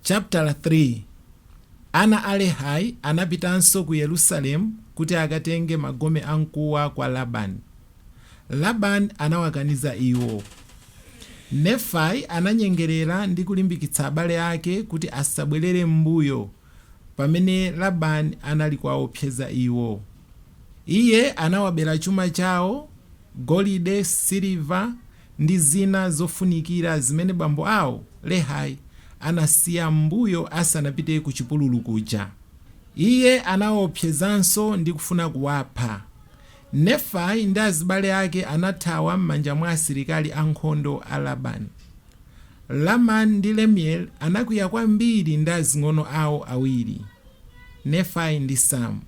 Chaputala 3, Ana a Lehi anapitanso ku Yerusalemu kuti akatenge magome amkuwa kwa Labani. Labani anawakaniza iwo. Nefai ananyengerera ndi kulimbikitsa abale ake kuti asabwerere m'mbuyo pamene Labani anali kuwawopseza iwo. Iye anawabera chuma chawo, golide, siliva, ndi zina zofunikira zimene bambo awo, Lehi, anasiya m'mbuyo asanapite kuchipululu kuja. Iye anawaopsezanso ndi kufuna kuwapha. Nefai ndi azibale ake anathawa m'manja mwa asilikali ankhondo a Labani. Lamani ndi Lemueli anakwiya kwambiri ndi azing'ono awo awiri, Nefai ndi Samu.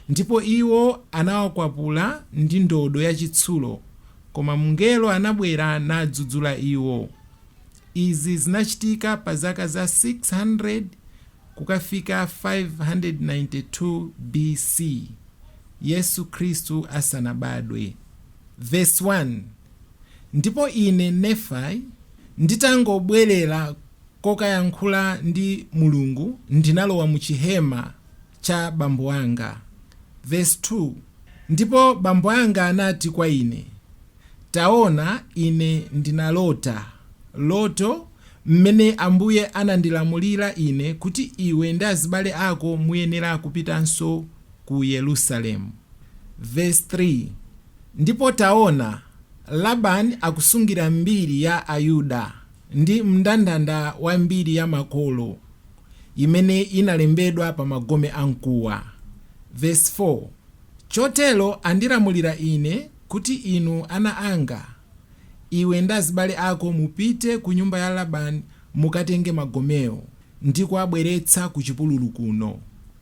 Ndipo iwo anawakwapula ndi ndodo yachitsulo, koma Mngelo anabwera nadzudzula iwo. Izi zinachitika pa zaka za 600 kukafika 592 B.C. Yesu Khristu asanabadwe. Vesi 1, Ndipo ine, Nefai, nditangobwerera kokayankhula ndi Mulungu, ndinalowa mu chihema. cha bambo anga. Vesi 2, Ndipo bambo anga anati kwa ine, Taona, ine ndinalota loto, m'mene Ambuye anandilamulira ine kuti iwe ndi azibale ako muyenera kupitanso ku Yerusalemu. Vesi 3, Ndipo taona, Labani akusungira mbiri ya Ayuda, ndi mndandanda wa mbiri ya makolo, imene inalembedwa pa magome a mkuwa. Vesi 4, Chotero andilamulira ine, kuti, Inu ana anga, iwe ndi azibale ako mupite ku nyumba ya Labani, mukatenge magomewo, ndi kuwabweretsa ku chipululu kuno.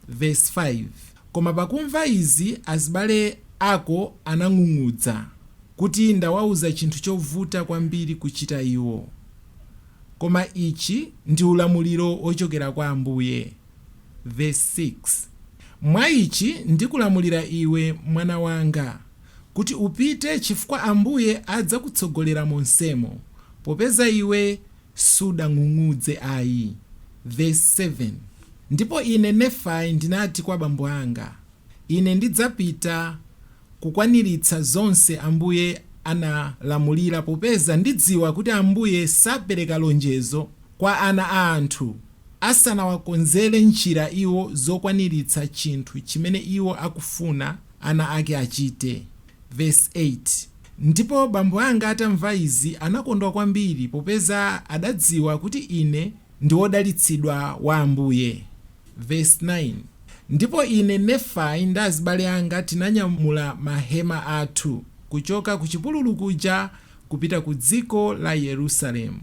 Vesi 5, Koma pakumva izi azibale ako anang'ung'udza, kuti ndawauza chinthu chovuta kwambiri kuchita iwo. koma ichi ndi ulamuliro wochokera kwa Ambuye, vesi 6, Mwa ichi ndikulamulira iwe, mwana wanga, kuti upite, chifukwa Ambuye adzakutsogolera monsemo, popeza iwe sudang'ung'udze ayi. Vesi 7, Ndipo ine, Nefai, ndinati kwa bambo anga. Ine ndidzapita kukwaniritsa zonse Ambuye analamulira popeza ndidziwa kuti Ambuye sapereka lonjezo kwa ana a anthu asanawakonzere njira iwo zokwaniritsa chinthu chimene iwo akufuna ana ake achite. Vesi 8, Ndipo bambo anga atamva izi anakondwa kwambiri popeza adadziwa kuti ine ndi wodalitsidwa wa Ambuye. Vesi 9, Ndipo ine, Nefai, ndi azibale anga tinanyamula mahema athu kuchoka kuchipululu kuja kupita ku dziko la Yerusalemu.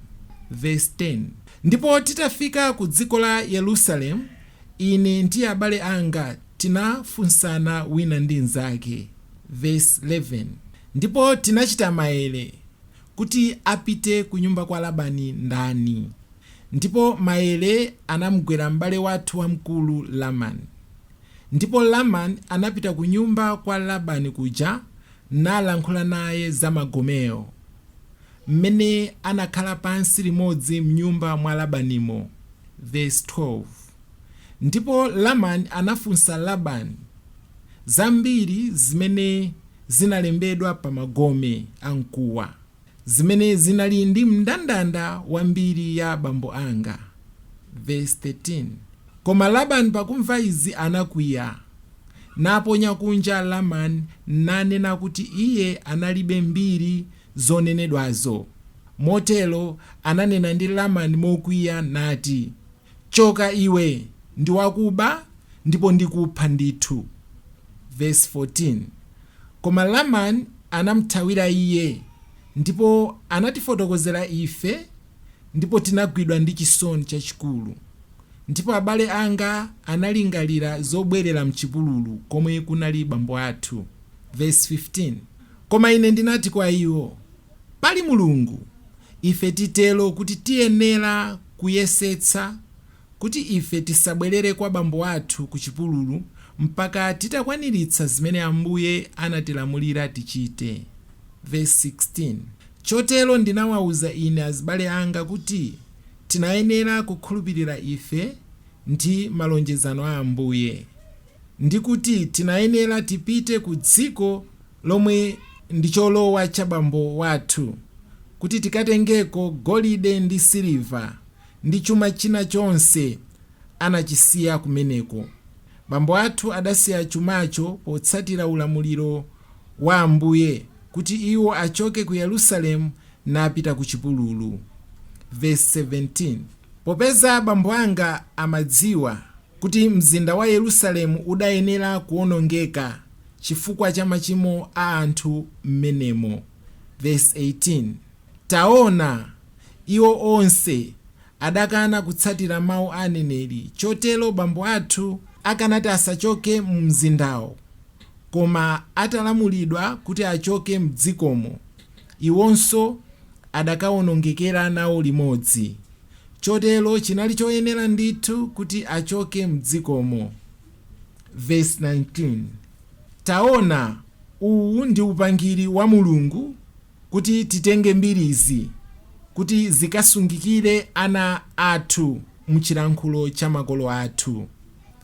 Vesi 10, Ndipo titafika ku dziko la Yerusalemu, ine ndi abale anga tinafunsana wina ndi mzake, Vesi 11, Ndipo tinachita maere, kuti apite kunyumba kwa Labani ndani? Ndipo maere anamugwera m'bale wathu wamkulu Lamani. Ndipo Lamani anapita kunyumba kwa Labani kuja nalankhula naye za magomewo, m'mene anakhala pansi limodzi m'nyumba mwa Labanimo. Vesi 12. Ndipo Lamani anafunsa Labani zambiri zimene zinalembedwa pa magome a mkuwa, zimene zinali ndi mndandanda wa mbiri ya abambo anga. Vesi 13, Koma Labani pakumva izi anakwiya, naponya kunja Lamani, nanena kuti iye analibe mbiri zonenedwazo. Motero ananena ndi Lamani mokwiya, nati. Choka iwe, ndi wakuba, ndipo ndikupha ndithu. Vesi 14, Koma Lamani anamuthawira iye, ndipo anatifotokozera ife, ndipo tinagwidwa ndi chisoni chachikulu. Ndipo abale anga analingalira zobwerera m'chipululu komwe kunali bambo athu. Vesi 15, Koma ine ndinati kwa iwo, pali Mulungu, ife titero kuti tiyenera kuyesetsa kuti ife tisabwerere kwa bambo athu ku chipululu mpaka titakwaniritsa zimene Ambuye anatilamulira tichite. Vesi 16, Chotero ndinawauza ine azibale anga kuti tinayenera kukhulupirira ife ndi malonjezano a Ambuye, ndi kuti tinayenera tipite ku dziko lomwe ndi cholowa cha bambo wathu, kuti tikatengeko golide ndi siliva ndi chuma china chonse anachisiya kumeneko. Bambo athu adasiya chumacho potsatira ulamuliro wa Ambuye kuti iwo achoke ku Yerusalemu napita ku chipululu. Vesi 17 Popeza bambo anga amadziwa. kuti mzinda wa Yerusalemu udayenera kuwonongeka chifukwa cha machimo a anthu m'menemo. Vesi 18, Taona, iwo onse adakana kutsatira mawu a aneneri, chotero bambo athu akanati asachoke mu mzindawo, koma atalamulidwa kuti achoke m'dzikomo, iwonso adakawonongekera nawo limodzi. chotero chinali choyenera ndithu kuti achoke m'dzikomo. Vesi 19, Taona, uwu ndi upangiri wa Mulungu kuti titenge mbirizi kuti zikasungikire ana athu m'chilankhulo cha makolo athu.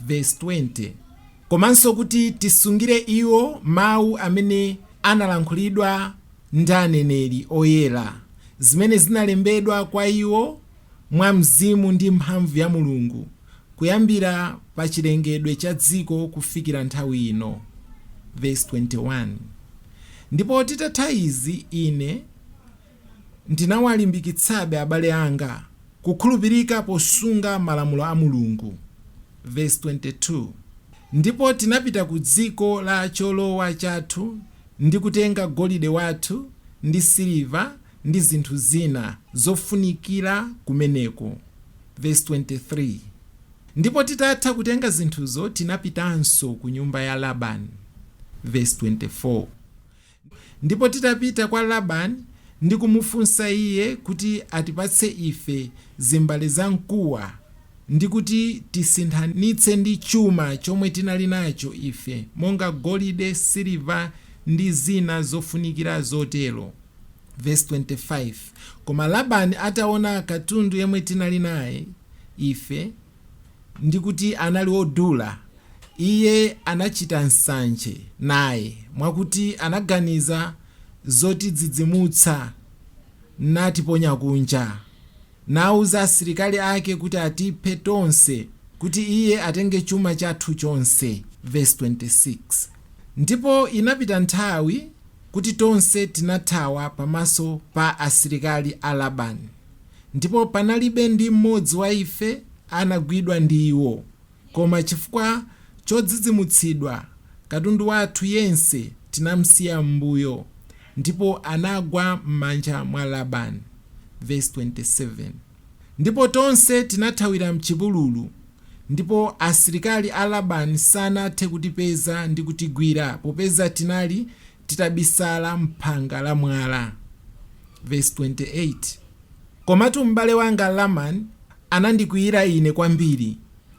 Vesi 20, Komanso kuti tisungire iwo mawu amene analankhulidwa. ndi aneneri oyera, zimene zinalembedwa kwa iwo mwa Mzimu ndi mphamvu ya Mulungu, kuyambira pa chilengedwe cha dziko kufikira nthawi ino. Vesi 21 Ndipo titatha izi ine ndinawalimbikitsabe, abale anga, kukhulupirika posunga malamulo a Mulungu. Vesi 22 Ndipo tinapita ku dziko la cholowa chathu, ndi kutenga golide wathu ndi siliva ndi zinthu zina zofunikira kumeneko, Vesi 23, Ndipo titatha kutenga zinthuzo tinapitanso ku nyumba ya Labani, Vesi 24, Ndipo titapita kwa Labani ndi kumufunsa iye kuti atipatse ife zimbale za mkuwa ndi kuti tisinthanitse ndi chuma chomwe tinali nacho ife, monga golide, siliva, ndi zina zofunikira zotero. Vesi 25, Koma Labani ataona katundu yemwe tinali naye ife, ndi kuti anali wodula, iye anachita nsanje naye, mwakuti anaganiza zotidzidzimutsa, natiponya kunja. nauza asilikali ake kuti atiphe tonse, kuti iye atenge chuma chathu chonse, vesi 26 Ndipo inapita nthawi, kuti tonse tinathawa pamaso pa asilikali a Labani, ndipo panalibe ndi mmodzi wa ife anagwidwa ndi iwo. Koma chifukwa chodzidzimutsidwa, katundu wathu yense tinamsiya m'mbuyo, ndipo anagwa m'manja mwa Labani. Vesi 27, Ndipo tonse tinathawira m'chipululu, ndipo asilikali a Labani sanathe kutipeza ndi kutigwira, popeza tinali titabisala m'phanga la mwala. Vesi 28, Komatu m'bale wanga Lamani anandikwiyira ine kwambiri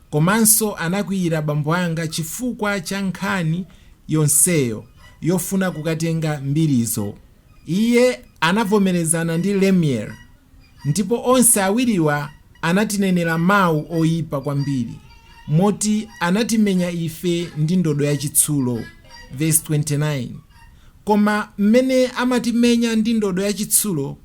komanso anakwiyira bambo anga chifukwa cha nkhani yonseyo yofuna kukatenga mbirizo. Iye anavomerezana ndi Lemueli ndipo onse awiriwa anatinenera mawu oipa kwambiri moti anatimenya ife ndi ndodo yachitsulo. Vesi 29, Koma m'mene amatimenya ndi ndodo yachitsulo,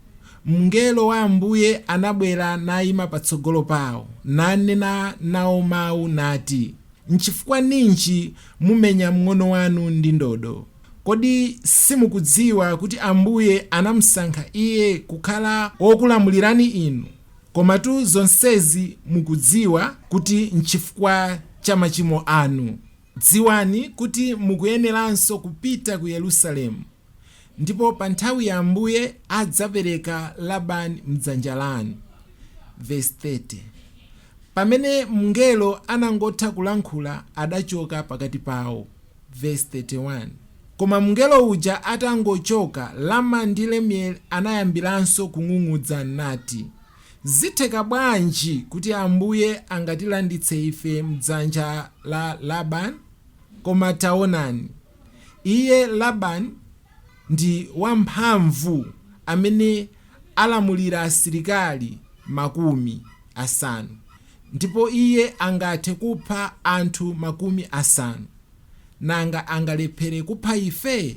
mngelo wa Ambuye anabwera naima patsogolo pawo, nanena nawo mawu, nati, Nchifukwa ninji mumenya mng'ono wanu ndi ndodo? Kodi simukudziwa kuti Ambuye anamusankha iye kukhala wokulamulirani inu? Komatu zonsezi mukudziwa kuti nchifukwa cha machimo anu. Dziwani kuti mukuyeneranso kupita ku Yerusalemu, ndipo pa nthawi ya Ambuye adzapereka Labani m'dzanja lanu. Vesi 30, Pamene mngelo anangotha kulankhula, adachoka pakati pawo. Vesi 31, Koma mngelo uja atangochoka, Lamani ndi Lemueli anayambiranso kung'ung'udza nati. Zitheka bwanji kuti Ambuye angatilanditse ife m'dzanja la Laban? Koma taonani, iye, Laban, ndi wamphamvu amene alamulira asilikali makumi asanu, ndipo iye angathe kupha anthu makumi asanu, nanga angalephere kupha ife?